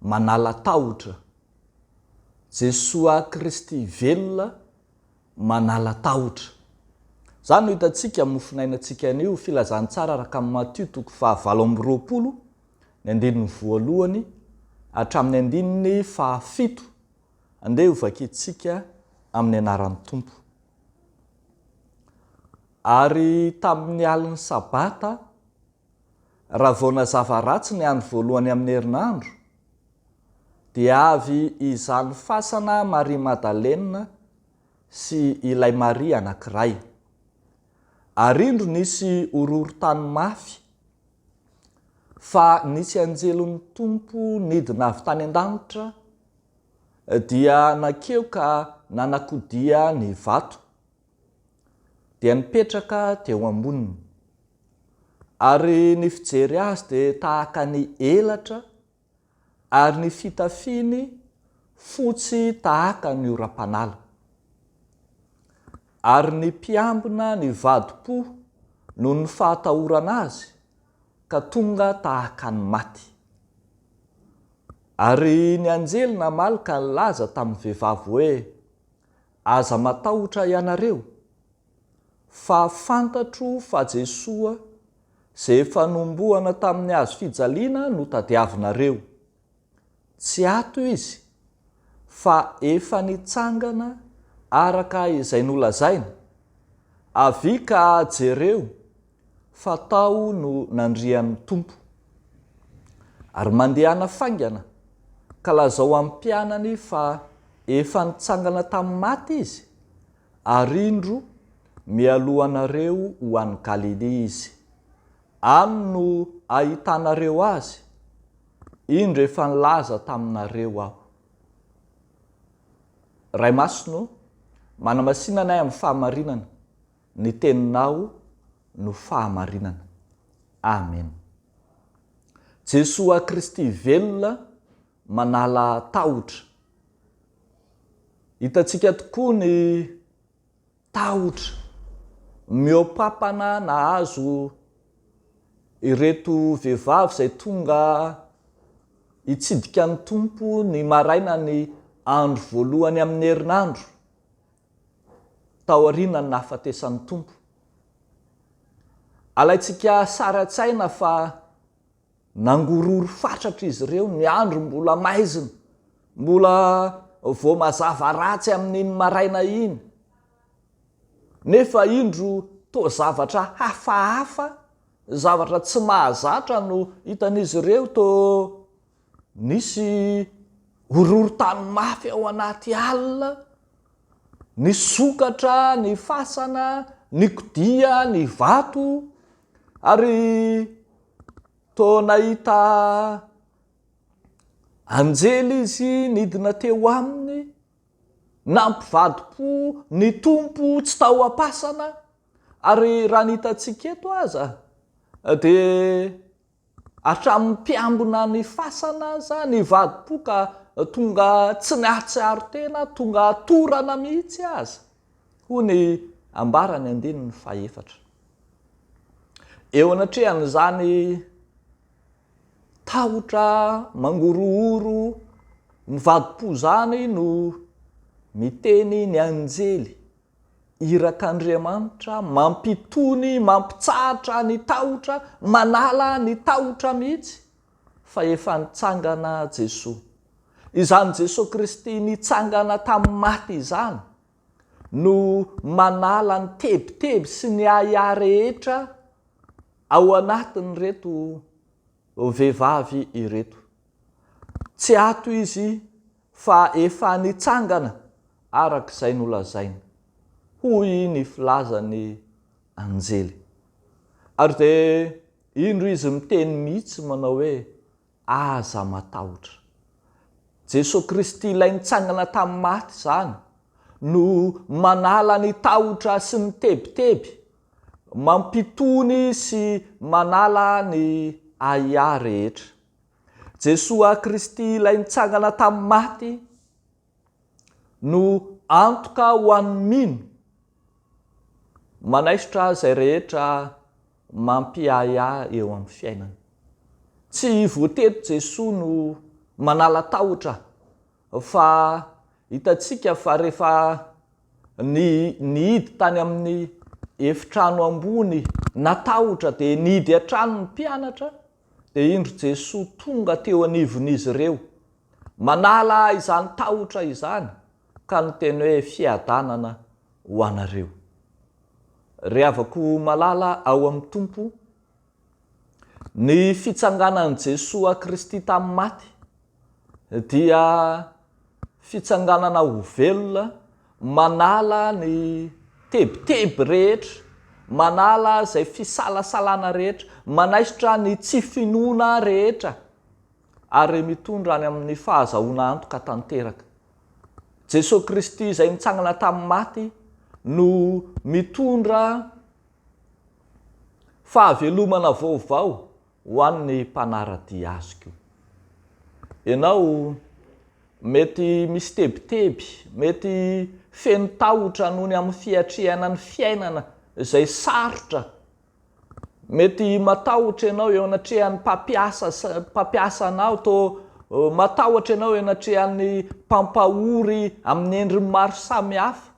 Manala tahotra. Jesoa Kristy velona manala tahotra. Izany no hitantsika amin'ny mofonainantsika anio, Filazantsara araka an'i Matio toko fahavalo amby roapolo, ny andininy voalohany hatramin'ny andininy fahafito. Andeha hovakintsika amin'ny anaran'ny Tompo. Ary tamin'ny alin'ny Sabata Raha vao nazava ratsy ny andro voalohany amin'ny herinandro, dia avy izany fasana Maria Madalena sy ilay Maria anankiray. Ary indro nisy horohorontany mafy fa nisy anjelin'ny Tompo nidina avy tany an-danitra dia nankeo ka nanakodia ny vato. dia nipetraka teo amboniny. Ary ny fijery azy dia tahaka ny elatra, ary ny fitafiany fotsy tahaka ny oram-panala. Ary ny mpiambina nivadi-po noho ny fahatahorana azy ka tonga tahaka ny maty. Ary ny anjely namaly ka nilaza tamin'ny vehivavy hoe, Aza matahotra ianareo, fa fantatro fa Jesoa izay efa nombohana tamin'ny hazo fijaliana no tadiavinareo. Tsy ato Izy, fa efa nitsangana araka izay nolazaina. Avia ka jereo Fa tao no nandrian'ny Tompo. Ary mandehana faingana, ka lazao amin'ny mpianany fa efa nitsangana tamin'ny maty Izy, ary indro, mialohanareo ho any Galilia Izy. Any no ahitanareo Azy. Indro efa nilaza taminareo Aho. Ray Masina ô, manamasina anay amin'ny fahamarinana. Ny teninao no fahamarinana. Amen. Jesoa Kristy velona manala tahotra. Hitantsika tokoa ny tahotra mihoapapana nahazo ireto vehivavy izay tonga hitsidika ny Tompo ny maraina ny andro voalohany amin'ny herinandro. tao aorianan'ny nahafatesan'ny Tompo. Alaintsika sary an-tsaina fa nangorory fatratra izy ireo, ny andro mbola maizina, mbola vao mazava ratsy amin'iny maraina iny, nefa indro toa zavatra hafahafa, zavatra tsy mahazatra no hitan'izy ireo, toa Nisy horohorontany mafy ao anaty alina, nisokatra ny fasana, nikodia ny vato, ary toa nahita anjely izy nidina teo aminy. Nampivadi-po ny Tompo tsy tao am-pasana, ary raha ny hitantsika eto aza dia. Hatramin'ny mpiambina ny fasana aza ny vadi-po ka tonga tsy nahatsiaro tena, tonga torana mihitsy aza, hoy ny ambaran'ny andininy fahefatra. Eo anatrehan'izany tahotra mangorohoro ny vadi-po izany no miteny ny anjely. Irak'Andriamanitra, mampitony, mampitsahatra ny tahotra, manala ny tahotra mihitsy, fa efa nitsangana Jesoa. Izany Jesoa Kristy nitsangana tamin'ny maty izany no manala ny tebiteby sy ny ahiahy rehetra ao anatin'ireto vehivavy ireto. Tsy ato izy fa efa nitsangana araka izay nolazainy, hoy ny filazan'ny anjely. Ary dia indro izy miteny mihitsy manao hoe, Aza matahotra. Jesoa Kristy ilay nitsangana tamin'ny maty izany no manala ny tahotra sy ny tebiteby, mampitony sy manala ny ahiahy rehetra. Jesoa Kristy ilay nitsangana tamin'ny maty no antoka ho an'ny mino. Manaisotra izay rehetra mampiahiahy eo amin'ny fiainana. Tsy voatery Jesoa no manala tahotra fa hitantsika fa rehefa ny nihidy tany amin'ny efitrano ambony natahotra dia nihidy hatrany ny mpianatra Dia indro Jesoa tonga teo anivon'izy ireo, manala izany tahotra izany, ka niteny hoe, Fiadanana ho anareo. Ry havako malala ao amin'ny Tompo, ny fitsanganan'i Jesoa Kristy tamin'ny maty, dia fitsanganana ho velona, manala ny tebiteby rehetra, manala izay fisalasalana rehetra, manaisotra ny tsy finoana rehetra ary mitondra any amin'ny fahazahoana antoka tanteraka. Jesoa Kristy izay nitsangana tamin'ny maty no mitondra fahavelomana vaovao Ho an'ny mpanara-dia azy koa. Ianao mety misy tebiteby, mety feno tahotra noho ny amin'ny fiatrehana ny fiainana izay sarotra, mety matahotra ianao eo anatrehan'ny mpampiasa sy mpampiasa anao, toa matahotra ianao eo anatrehan'ny mpampahory amin'ny endriny maro samihafa.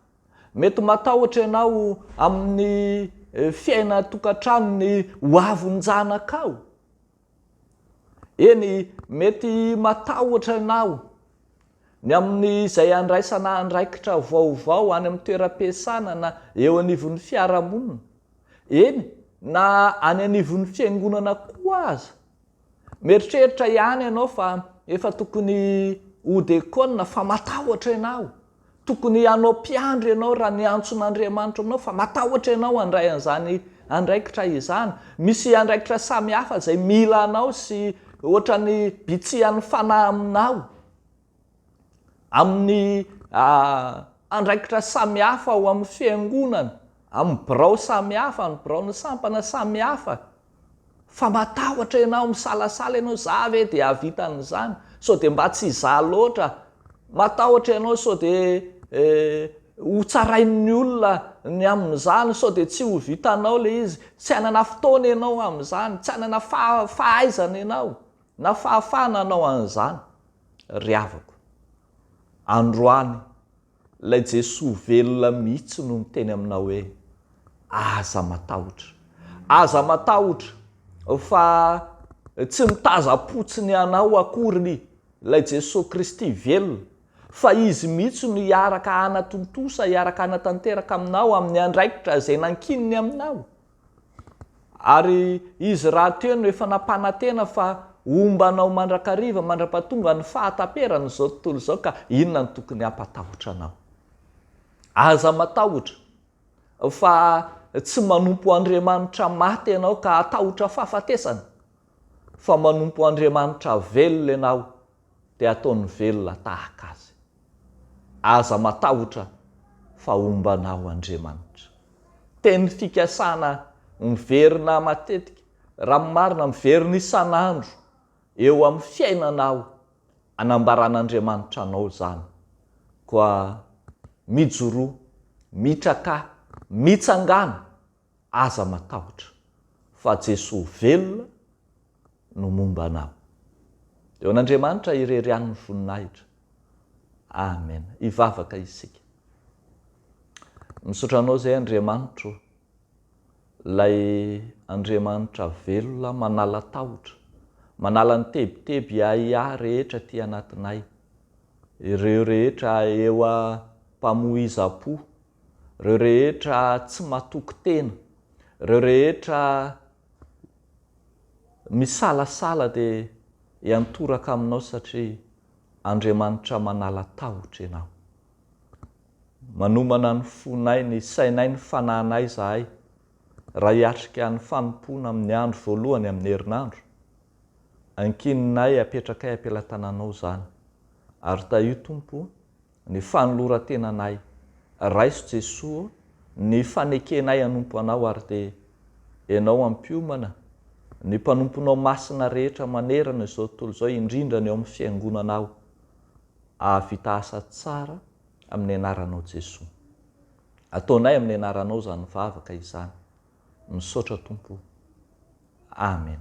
Mety matahotra ianao amin'ny fiaina an-tokantrano ny hoavin-janakao. Eny, mety matahotra ianao ny amin'izay handraisana andraikitra vaovao any amin'ny toeram-piasana na eo anivon'ny fiarahamonina, eny na any anivon'ny fiangonana koa aza. Mieritreritra ihany ianao fa efa tokony ho dekona fa matahotra ianao. Tokony hanao mpiandry ianao raha niantson'Andriamanitra anao fa matahotra ianao handray an'izany andraikitra izany. Misy andraikitra samihafa izay mila anao sy ohatran'ny bitsihan'ny fanahy aminao. amin'ny andraikitra samihafa ao amin'ny fiangonana, amin'ny birao samihafa, amin'ny biraon'ny sampana samihafa, fa matahotra ianao, misalasala ianao, za ve dia hahavita an'izany? sao dia mba tsy za loatra? matahotra ianao sao dia ho tsarain'ny olona ny amin'izany, sao dia tsy ho vitanao ilay izy, tsy hanana fotoana ianao amin'izany, tsy hanana fahaizana ianao na fahafahana hanao an'izany, ry havako. Androany, ilay Jesoa velona mihitsy no niteny aminao hoe, Aza matahotra. Aza matahotra fa tsy mitazam-potsiny anao akory ilay Jesoa Kristy velona, fa Izy mihitsy no hiaraka hanatontosa, hiaraka hanatanteraka aminao amin'ny andraikitra izay nankininy aminao. Ary izy rahateo no efa nampanantena fa homba anao mandrakariva mandrapatonga ny fahataperan' izao tontolo izao ka inona no tokony hampatahotra anao? Aza matahotra fa tsy manompo Andriamanitra maty ianao ka hatahotra fahafatesana, fa manompo Andriamanitra velona ianao dia ataony velona tahaka azy. Aza matahotra fa homba anao Andriamanitra. Teny fikasana miverina matetika, raha ny marina miverina isan'andro eo amin'ny fiainanao anambaran'Andriamanitra anao izany. Koa mijoroa, mitraka, mitsangàna Aza matahotra, fa Jesoa velona no momba anao. Eo an'Andriamanitra irery ihany ny voninahitra. Amen. Hivavaka isika. Misaotra Anao izay Andriamanitro ô, ilay Andriamanitra velona manala tahotra, manala ny tebiteby ahiahy rehetra aty anatinay, ireo rehetra eo am-pamoizam-po reo rehetra tsy matoky tena, reo rehetra misalasala de iantoraka aminao satria Andriamanitra manala tahotra ianao. Manomana ny fonay, ny sainay, ny fanahinay zahay raha hiatrika ny fanompoana amin'ny andro voalohany amin'ny herinandro. Ankininay apetrakay am-pelatananao zany ary tahio Tompo o! Ny fanoloran-tenanay. Raiso Jesoa ô, ny fanekenay hanompo Anao ary dia Ianao ampiomana ny mpanomponao masina rehetra manerana izao tontolo izao indrindra ny ao amin'ny fiangonanao ahavita asa tsara amin'ny anaranao Jesoa. Ataonay amin'ny anaranao izany vavaka izany. Misaotra Tompo o. Amen.